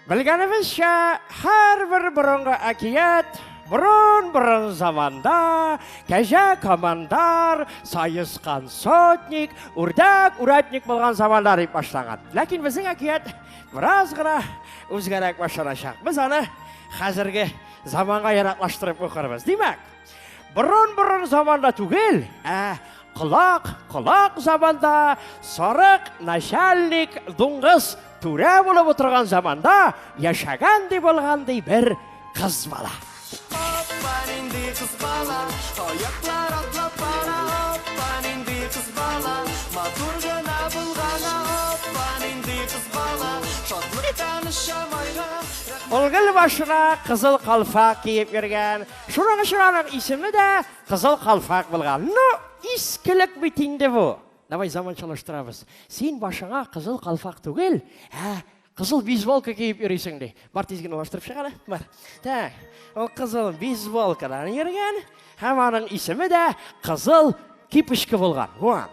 Белгәнебезчә, һәрбер борынгы әкият борын-борын заманда кәҗә командар, саескан сотник, үрдәк урядник булган заманда дип башлаган. Ләкин безнең әкият бераз гына үзгәрәк башланачак. Без аны хәзерге заманга яраклаштырып укырбыз. Димәк, Борын-борын заманда түгел, ә колак, колак заманда сарык, начальник, дуңгыз, түрә булып отырган заманда яшәгән ди булган ди бер кыз бала. Оппа, нинди кыз бала, аяклар атлап бара, оппа, нинди кыз бала, матур гына булгана, оппа, нинди кыз бала, шатлыктан шамайга. Ул гел башына кызыл калфак киеп йөргән, Шуның өчен аның исеме дә Кызыл Калфак булган. Ну, искелек бит инде бу. Давай заманчалаштырабыз. Син башыңа Кызыл Калфак түгел, ә Кызыл бейсболка киеп йөрисең ди. Бар тиз генә алыштырып чык әле. Бар. Так. Ул кызыл бейсболкадан йөргән һәм аның исеме дә Кызыл Кипочка булган. Вон.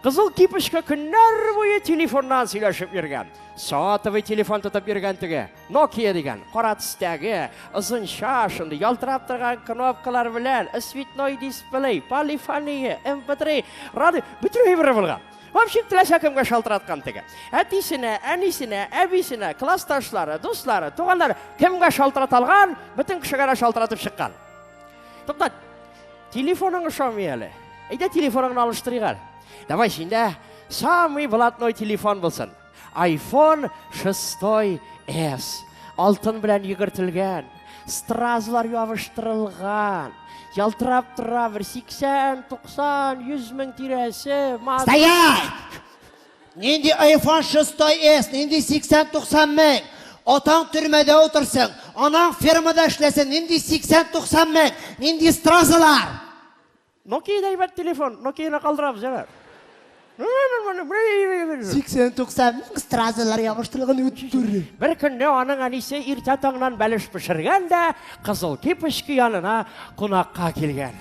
Кызыл кипочка көннәр буе телефоннан сөйләшеп йөргән. Сотовый телефон тотып йөргән теге. Nokia дигән, кара төстәге, озынча, шундый ялтырап торган кнопкалар белән, цветной дисплей, полифония, MP3, радио, бөтен әйбер булган. В общем, теләсә кемгә шалтыраткан теге. Әтисенә, әнисенә, әбисенә, классташлары, дуслары, туганнары, кемгә шалтырата алган, бөтен кешегә дә шалтыратып чыккан. Туктат, Телефоның ошамый әле. Әйдә телефоныңны алыштырыйк әле. Давай синдә самый блатной телефон булсын. iPhone 6s. Алтын белән йөгертелгән, стразлар ябыштырылган, ялтырап тора бер 80, 90, 100 мең тирәсе. Стоять! Нинди айфон шестой эс, нинди 80-90 мең? Атаң төрмәдә утырсын, анаң фермада эшләсен, нинди 80-90 мең, нинди стразалар? Nokia да әйбәт телефон, Nokia ны калдырабыз, җәмәгать. 80-90 мең стразалар ябыштырылган үттер. Бер көнне аның әнисе иртә таңнан бәлеш пешергән дә Кызыл Кипочка янына кунакка килгән.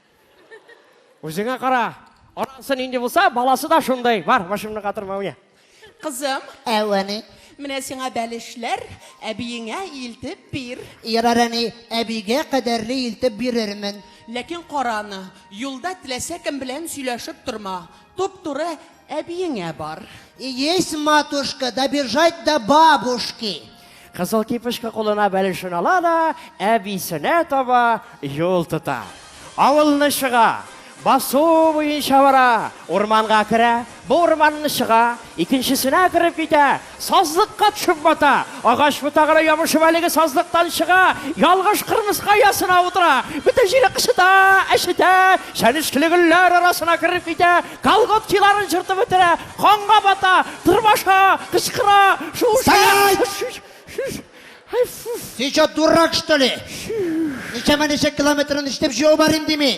Үзеңә кара. Анасы нинди булса, баласы да шундый. Бар, башымны катырма, уйна. Кызым. Әү, әни. Менә сиңа бәлешләр, әбиеңә илтеп бир. Ярар, әни, әбигә кадәрле илтеп бирермен. Ләкин караны, юлда теләсә кем белән сөйләшеп торма. Туп-туры әбиеңә бар. Есть, матушка, добежать до бабушки. Кызыл кипешка кулына бәлешен ала да, әбисенә таба юл тота. Авылны чыга, басу буенча бара, урманга керә, бу урманны чыга, икенчесенә кереп китә, Сазлыкка төшеп бата. Агач ботагына ябышып әлеге сазлыктан чыга, ялгыш кырмыска оясына утыра. Бөтен җире кычыта, әчетә, чәнечкеле гөлләр арасына кереп китә, колготкиларын җыртып бетерә, канга бата, тырмаша, кычкыра, шуыша. Стоять! Ты чо, дурак, что ли? Ничәмә ничә километрын ишетеп җыяу бар инде мин?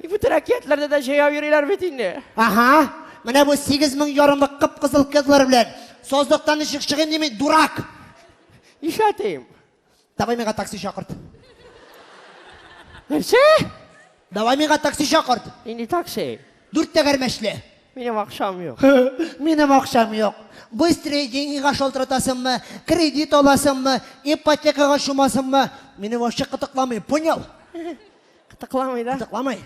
И, Бөтен әкиятләрдә дә җәяү йөриләр бит инде. Ага, менә бу сигез мең ярымлы кып-кызыл кызлар белән сазлыктан ничек чыгыйм дими, дурак! Ишәтим. Давай миңа такси чакырт. Нәрсә? Давай миңа такси чакырт. Нинди такси? Дүрт тәгәрмәчле. Минем акчам юк. Минем акчам юк. Быстрые деньгига шалтыратасыңмы, кредит аласыңмы, ипотекага чумасыңмы? Мине вообще кытыкламый, понял? Кытыкламый да? Кытыкламый.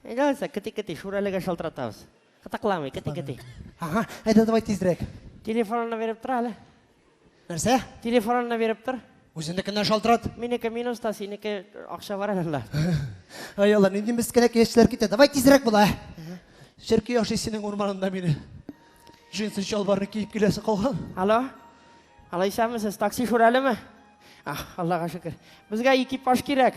Әйдә алса, кыти-кыти, шүрәлегә шалтыратабыз. Кытыкламый, кыти-кыти. Ага, әйдә давай тизрәк. Телефонына биреп тор әле. Нәрсә? Телефонына биреп тор. Үзенекеннән шалтырат. Минеке минуста, синеке акча бар әле. Ай алла, нинди мескенәк яшьләр китә. Давай тизрәк була. Черки яши синең урманында мине. Джинсы чалбарны киеп киләсе калган. Алло? Алайсамы сез такси шүрәлеме? Аллага шөкер. Безгә экипаж кирәк.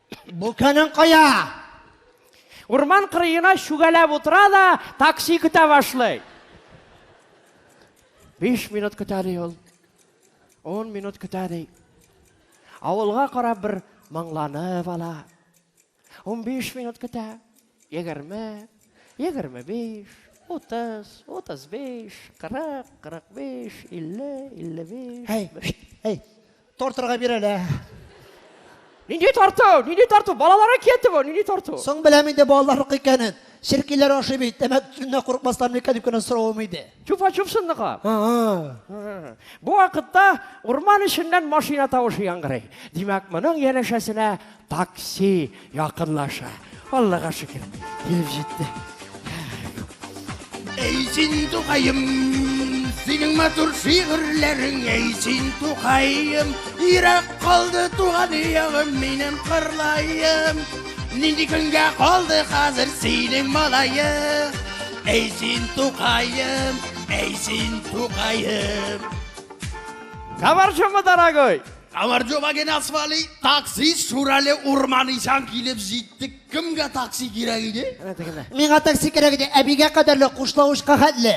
Бу көнең кая? Урман кырыена чүгәләп утыра да, такси көтә башлый. Биш минут көтә ди ул. Он минут көтә ди. Авылга карап бер моңланып ала. Унбиш минут көтә. Егерме, егерме биш, утыз, утыз биш, кырык, кырык биш, илле, илле биш. Әй, шт, әй, тортырга бир әле. Нинди тарту, нинди тарту, балалары кету, нинди тарту. Соң беләм инде балалар икәнен. Черкиләр ашый бит, тәмәк төтененә курыкмастан микән дип кенә соравым иде. Чупа-чуп сындыга. Бу вакытта урман эченнән машина тавышы яңгырый. Димәк, моның янәшәсенә такси якынлаша. Аллага шөкер, килеп җитте. Әй син тугаем, синең матур шигырьләрең, әй син тугаем, ирак калды туган ягым, минем кырлаем. Нинди көнгә калды хәзер синең малаең? Әй син тукаем, әй син тукаем. Кабарчымы, дорогой? Кабарчыма генә свали, такси Шурале урман ишан килеп җиттек. Кемгә такси кирәк иде? Миңа такси кирәк иде, әбигә кадәрле Кушлавычка хәтле.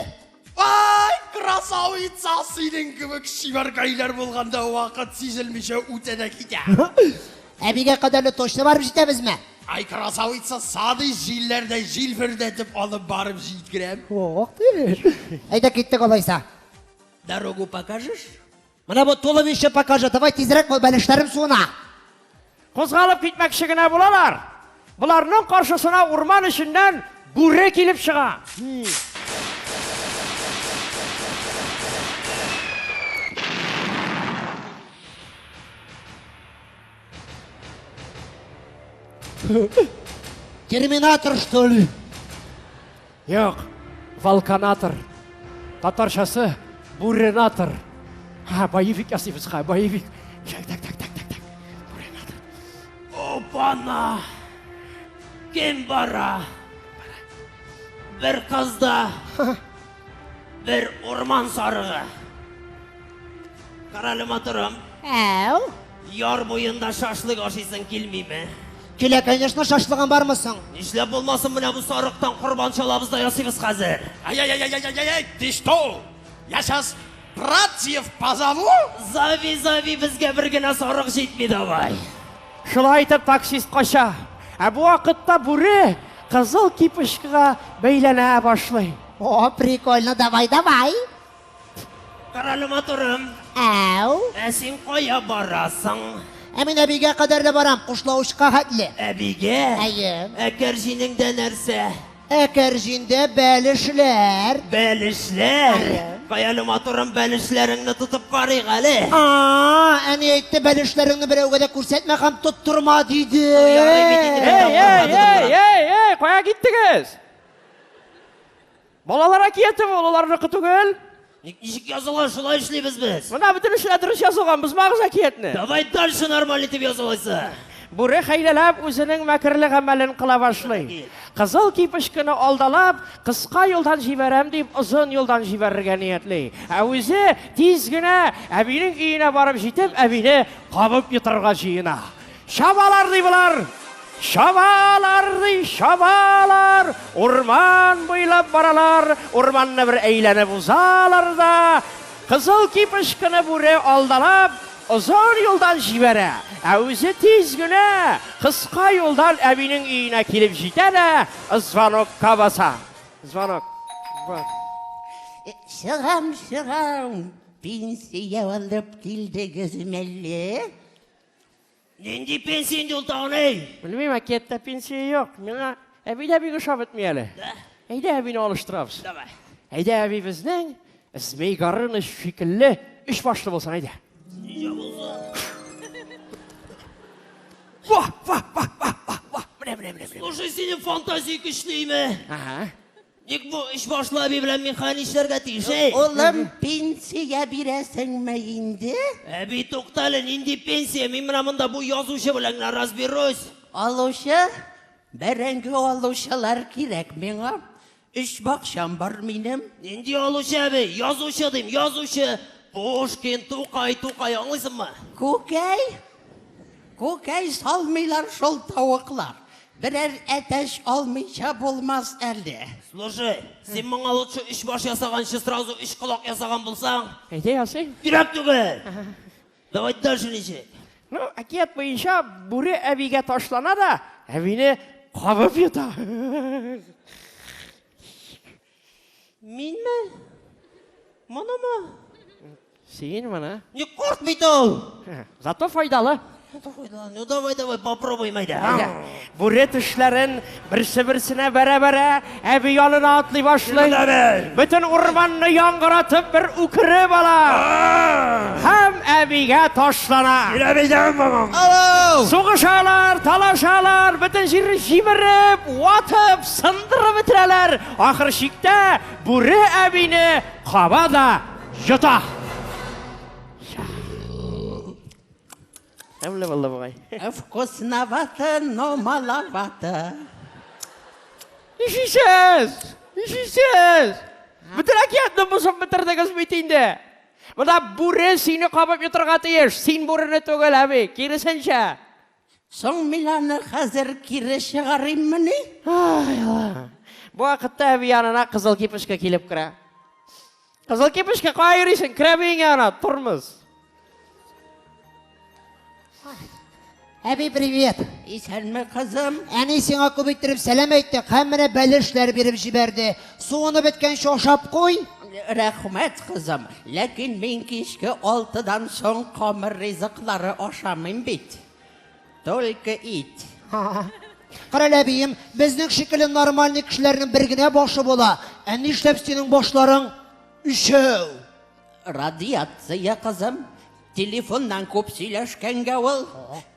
Ай, красавица, синең кебек чибәркәйләр булганда вакыт сизелмичә үтә дә китә. Әбигә кадәрле точно барып җитәбезме? Ай, красавица, сады җилләрдә җилфердәтеп алып барып җиткерәм. Ох, теш. Әйдә киттек алайса. Дорогу покажешь? Менә бу туловище покажи. Давай тизрәк бул, бәлешләрем суына. Кузгалып китмәкче генә булалар. Боларның каршысына урман эченнән бүре килеп чыга. Терминатор, что ли? Юк, волканатор. Татарчасы буренатор. Ха, боевик ясыйбыз, ха, боевик. Так, так, так, так, так, так. Буренатор. Опана! Кем бара? Бер кызда. Бер урман сарыгы. Карале матурым. Әу. Яр буенда шашлык ашыйсың килмиме? Килә, конечно, шашлыгын бармы соң? Нишләп булмасын менә бу сарыктан корбан чалабыз да ясыйбыз хәзер. Ай-яй-яй-яй-яй-яй, ты что? Я сейчас братьев позову? Зави, зави, безгә бер генә сарык җитми давай. Шулай итеп таксист кача. Ә бу вакытта бүре кызыл кипочкага бәйләнә башлый. О, прикольно, давай, давай. Карале матурым. Әу. Ә син кая барасың? Ә мин әбигә кадәр дә барам, кушлаучка хәтле. Әбигә? Әйе. Ә кәрҗинеңдә нәрсә? Ә кәрҗиндә бәлешләр. Бәлешләр? Каяли матурым, бәлешләреңне тотып карыйк әле. А, әни әйтте, бәлешләреңне берәүгә дә күрсәтмә һәм тоттырма диде. Ярый бит инде. Эй, эй, эй, эй, эй, кая киттегез? Балалар әкияте бу, олыларныкы түгел. Ник ничек язылган шулай эшлибез без. Менә бөтенесе дә дөрес язылган, бозмагыз әкиятне. Давай дальше нормаль итеп язылайсы. Бүре хәйләләп үзенең мәкерле гамәлен кыла башлый. Кызыл кипешкене алдалап, кыска юлдан җибәрәм дип, озын юлдан җибәрергә ниятли. Ә үзе тиз генә әбинең өенә барып җитеп, әбине кабып йотарга җыена. Чабалар ди болар! Чабалар ди, чабалар! Урман буйлап баралар, урманны бер әйләнеп узалар да, кызыл кипышкыны бүре алдалап, озын юлдан җибәрә. Ә үзе тиз генә кыска юлдан әбинең өенә килеп җитә дә, звонокка баса. Звонок. Звонок. Чыгам, чыгам. Пенсия алып килдегез мәлле? Нинди пенсия инде ул тагын, эй? Белмим, әкияттә пенсия юк. Миңа әби дә бик ошап бетми әле. Да. Әйдә әбине алыштырабыз. Давай. Әйдә әбибезнең Змей Горыныч шикелле өч башлы булсын, әйдә. Нигә булса? Ва, ва, ва, ва, ва, ва. Менә, менә, менә, менә. Слушай, синең фантазия көчлеме? Ага. Ник бу өчбашлы әби белән мин хәл нишләргә тиеш, эй? Улым, пенсия бирәсеңме инде? Әби, туктале, нинди пенсия? Мин менә монда бу язучы белән генә разберусь. Алучы? Бәрәңге алучылар кирәк миңа. Өч бакчам бар минем. Нинди алучы әби? Язучы дим, язучы. Пушкин, Тукай, Тукай, аңлыйсыңмы? Күкәй? Күкәй салмыйлар шул тавыклар. Берәр әтәч алмыйча булмас әле. Слушай, син моңа лучше өч баш ясаганчы сразу өч колак ясаган булсаң. Әйдә ясыйм. Кирәк түгел. Давай дальше ничек? Ну, әкият буенча бүре әбигә ташлана да, әбине кабып йота. Минме? Монымы? Син моны? Не корт бит ул! Зато файдалы. Ну давай, давай, попробуем әйдә. Бүре тешләрен берсе-берсенә бәрә-бәрә әби янына атлый башлый. Бөтен урманны яңгыратып бер үкереп ала. Һәм әбигә ташлана. Килә бизәм, мамам. Сугышалар, талашалар, бөтен җирне җимереп, ватып, Сындырып бетерәләр, ахыр чиктә Бүре әбине каба да йота. Тәмле булды бугай. Вкусновато, но маловато. Ишисез! Ишисез! Бөтен әкиятне бозып бетердегез бит инде. Монда бүре сине кабып йотрга тиеш. Син бүрени түгел, әби, киресенчә. Соң мин аны хәзер кире чыгарыйммыни? Ай, Аллаһ. Бу вакытта әби янына Кызыл кипешкә килеп керә. Кызыл кипешкә кая йөрисең? Керә биеңә ана, тормыз. Әби, привет! Исәнме, кызым? Әни сиңа күп иттереп сәлам әйтте, һәм менә бәлешләр биреп җибәрде. Суыны беткәнче ашап куй. Рәхмәт, кызым. Ләкин мин кичке алтыдан соң камыр ризыклары ашамыйм бит. Только ит. Карале, әбием, безнең шикелле нормальный кешеләрнең бер генә башы була. Ә нишләп синең башларың өчәү? Радиация, кызым. Телефоннан күп сөйләшкәнгә ул.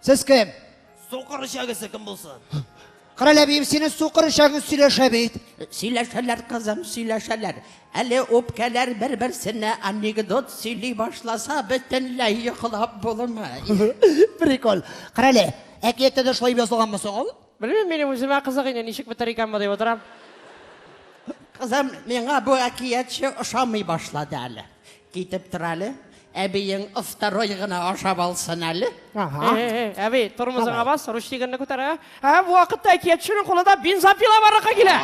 Сез кем? Сукыр эчәгесе кем булсын? Кара ләбием, синең сукыр эчәгең сөйләшә бит. Сөйләшәләр, кызым, сөйләшәләр. Әле үпкәләр бер-берсенә анекдот сөйли башласа, бөтенләй йоклап булмый. Прикол. Кара әле, әкияттә дә шулай язылганмы соң ул? Белмим, минем үземә кызык инде, ничек бетәр икән бу дип утырам. Кызым, миңа бу әкиятче ошамый башлады әле. Китеп тор әле, әбиең второй гына ашап алсын әле. Ага. Э-э-э, әби, тормозыңа бас, ручнигыңны күтәр, ә? Ә бу вакытта әкиятченең кулында бензопила барлыкка килә.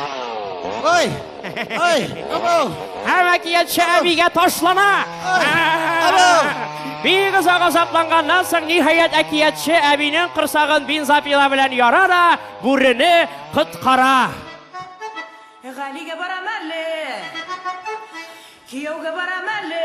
Ой! Ай, абау! Һәм әкиятче әбигә ташлана! Бик озак азапланганнан соң, ниһаять, әкиятче әбинең корсагын бензопила белән яра да, бүрене коткара. Галигә барам әле! Кияүгә барам әле!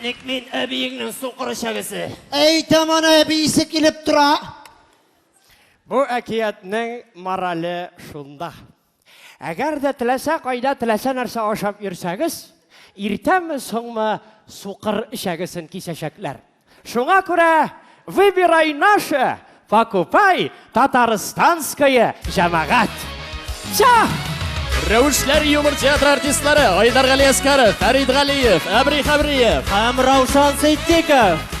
Ник мин әбиеңнең сукыр чәбесе? Әйтәм аны әбисе килеп тора. Бу әкиятнең морале шунда. Әгәр дә теләсә кайда теләсә нәрсә ашап йөрсәгез, иртәме соңмы сукыр эчәгесен кисәчәкләр. Шуңа күрә выбирай наше, Покупай Татарстанское җәмәгать! Ча! Рәвешләр юмор театры артистлары Айдар Гали Әскаров, Фәрид Галиев, Әбри Хәбриев һәм Раушан Ситдиков.